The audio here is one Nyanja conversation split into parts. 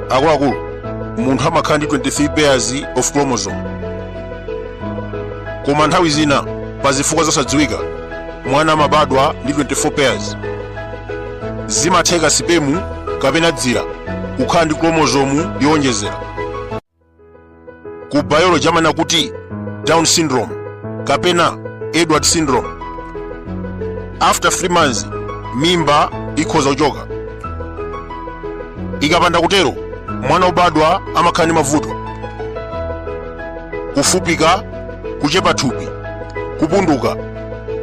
akuluakulu munthu amakhala ndi 23 pairs of chromosome koma nthawi zina pa zifukwa zosadziwika mwana amabadwa ndi 24 pairs zimatheka sipemu kapena dzira kukhala ndi chromosome yowonjezera ku biology amanena kuti down syndrome kapena edward syndrome after 3 months mimba ikhoza kuchoka ikapanda kutero mwana obadwa amakhala ndi mavuto kufupika kuchepa thupi kupunduka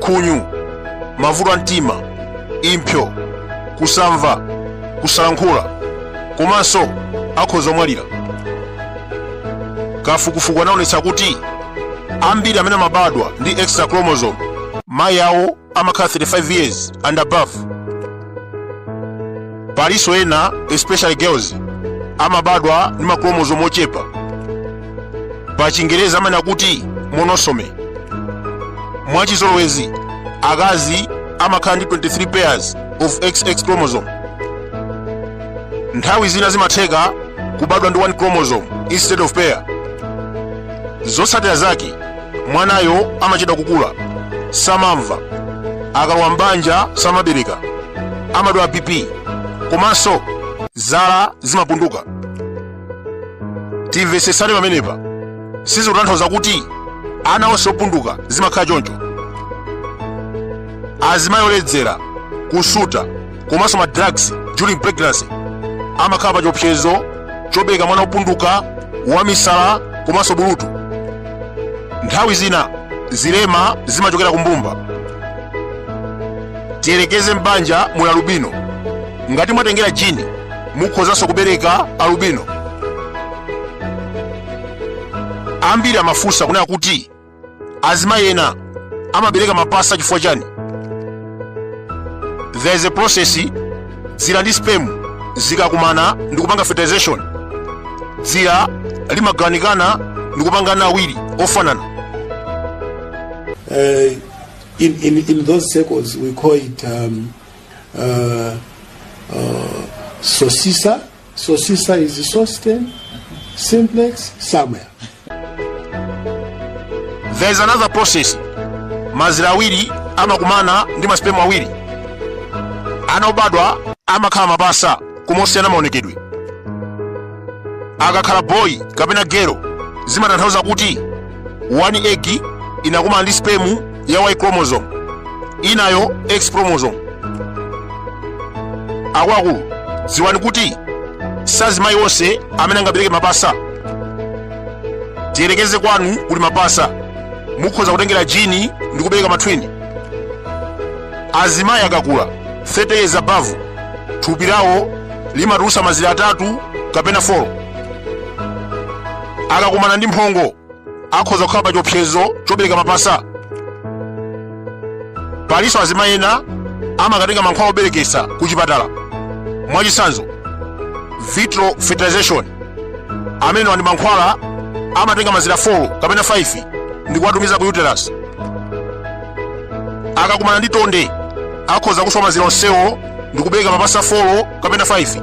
khunyu mavuto a mtima impsyo kusamva kusalankhula komanso akhoza kumwalira kafukufuku anaonetsa kuti ambiri amene amabadwa ndi extra chromosome mayi awo amakhala 35 years and above palinso ena especially girls amabadwa ndi machromosome ochepa pa chingerezi amanena kuti monosome mwachizolowezi akazi amakhala ndi 23 pairs of xx chromosome nthawi zina zimatheka kubadwa ndi one chromosome instead of pair zotsatira zake mwanayo amachedwa kukula samamva akalowa m'banja samabereka amadwala bp komanso zala zimapunduka timvetsetsane pamenepa sizikutanthauza kuti ana onse opunduka zimakhala choncho azimayi oledzera kusuta komanso ma drugs during pregnancy amakhala pa chiopsezo chobereka mwana wopunduka wamisala komanso bulutu nthawi zina zilema zimachokera kumbumba tiyerekeze m'banja muli alubino ngati mwatengera jini mukhozanso kubereka alubino ambiri amafunsa kunena kuti azimayi ena amabereka mapasa chifukwa chani there is a process dzira ndi sperm zikakumana ndi kupanga fertilization dzira limagawanikana ndi kupanga ana awiri ofanana uh, in, in, in those circles, we call it um, uh, uh, sosisa Sosisa is Sosten, Simplex, Samuel. there is another process mazira awiri amakumana ndi masipemu awiri ana obadwa amakhala mapasa koma osiyana maonekedwe akakhala boyi kapena gero zimatanthauza kuti one egg inakumana ndi sperm ya y chromosome inayo x chromosome akuluakulu dziwani kuti sazimayi onse amene angabereke mapasa tiyerekeze kwanu kuli mapasa mukhoza kutengera jini ndi kubereka matwini azimayi akakula 30 years above thupi lawo limatulusa mazira atatu kapena 4 akakumana ndi mphongo akhoza kukhala pa chiopsezo chobereka mapasa palinso azimayi ena amakatenga mankhwala obereketsa ku chipatala mwachitsanzo vitro fertilization amenewa ndi mankhwala amatenga mazira 4 kapena 5 ndi kuwatumiza ku uterus akakumana ndi tonde akhoza kuswa mazira onsewo ndi kubereka mapasa 4 kapena 5